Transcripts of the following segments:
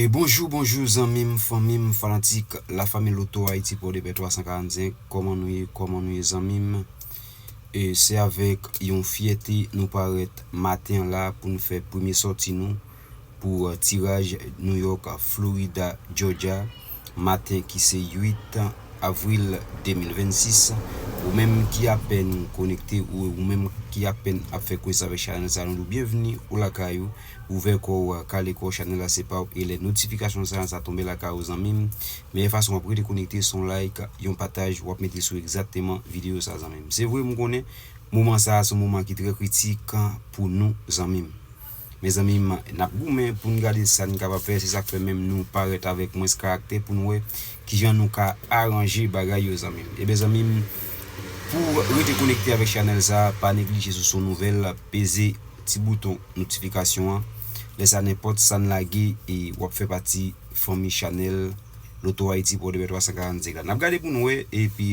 Bonjou bonjou zanmim fanmim fanatik la fanmi loto ayiti podepè 345 kòman nou ye kòman nou ye zanmim e se avèk yon fyète nou parèt maten an la pou nou fè premye sòti nou pou tiraj New York, Florida, Georgia. maten ki se 8 avril 2026 ou menm ki apèn konekte ou ou menm ki apèn ap fè kounes avèk chanèl sa nou di w byenvni ou lakay ou ouvè kò ou kale kò w chanèl la se pa w e lè notifikasyon sa sa tonbe lakay ou zanmi m meyè fason w ap rete konekte se yon like yon pataj w ap mete sou egzakteman videyo sa zanmi m se vre m konnen moman sa se yon moman ki trè kritik pou nou zanmi m. Mezanmi nap goumen poun gade sa n kapab fè se sak fè menm nou parèt avèk mwens karaktè poun wè kijan nou ka aranje bagay yo zanmi m ebyen zanmi m pou w rete konekte avèk chanèl sa pa neglije sou son nouvèl peze ti bouton notifikasyon an lè sa nenpòt sa n lage wap fè pati fanmi chanèl lotohaiti pòdepè 345 la nap gade poun wè epi.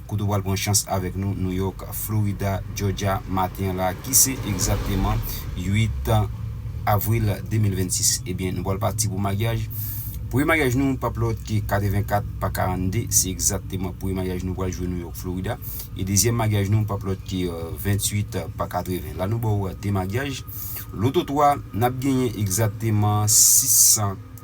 Kote w pral pran chans avèk nou, New York, Florida, Georgia, maten an la, ki se egzakteman 8 avril 2026. Ebyen, nou pral pati pou maryaj. Premye maryaj nou p ap lòt ke 84 pa 42, se egzakteman premye maryaj nou pral jwe New York, Florida. E dezyèm maryaj nou p ap lòt ke 28 pa 80. La nou ba w 2 maryaj. Loto 3, n ap genyen egzakteman 600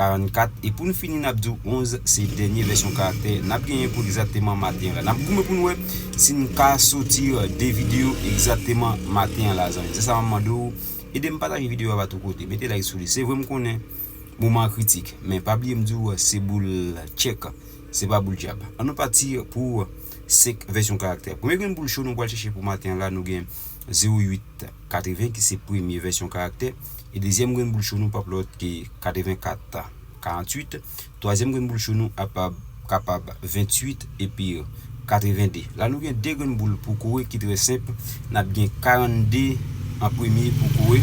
44, e pou n fini n ap di w 11 se dènye vèsyon karaktè n ap genyen pou egzakteman maten an la. N ap goumen pou n wè si n ka soti 2 videyo egzakteman maten an la zanmi. Se sa m ap mande w, ede m pataje videyo a ba tout kote, mete like sou li. Se vre m konnen moman an kritik, men pa bliye m di w se boul tchèk, se pa boul djab. An nou pati pou 5 vèsyon karaktè. Premye grenn boul cho nou pral chèche pou maten an la nou gen 08. 80 ki se premye vèsyon karaktè, e dezyèm grenn boul cho nou pap lòt ke 84, 48, twazyèm grenn boul cho nou apab kapab 28 epi 82. La nou gen 2 grenn boul pou kore ki trè senp, n ap gen 42 an premye pou kore,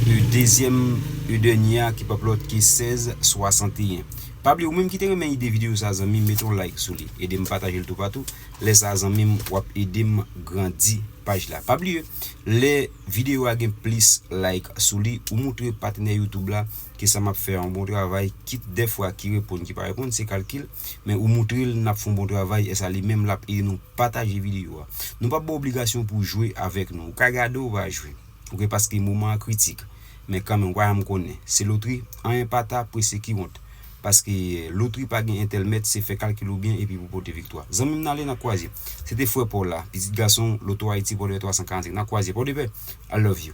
e dezyèm e dènye a ki pap lòt ke 16, 61. Pa bliye ou menm ki te renmen ide videyo sa zanmi m mete yon like sou li, ede m pataje l toupatou, lè sa zanmi m w ap ede m grandi. Paj la. Pa bliye lè videyo a gen plis like sou li ou moutre patnè youtube la ke sa map fè an bon travay kit dèfwa ki reponn ki pa reponn se kalkil men ou moutre l nap fon bon travay esa li menm lap ede nou pataje videyo a nou pap baw obligasyon pou jwe avèk nou ou ka gade ou pa jwe. ok paske moman an kritik men kanmenm wayam konnen se lotri anyen pata prese kiwont paske lotri pagen entèlmèt se fè kalkil ou byen epi pou pote viktwa zanmim nale nan kwaze se te frè paw la pitit gasonw loto ayiti pòdepè 345 nan kwaze pòdepè I love you.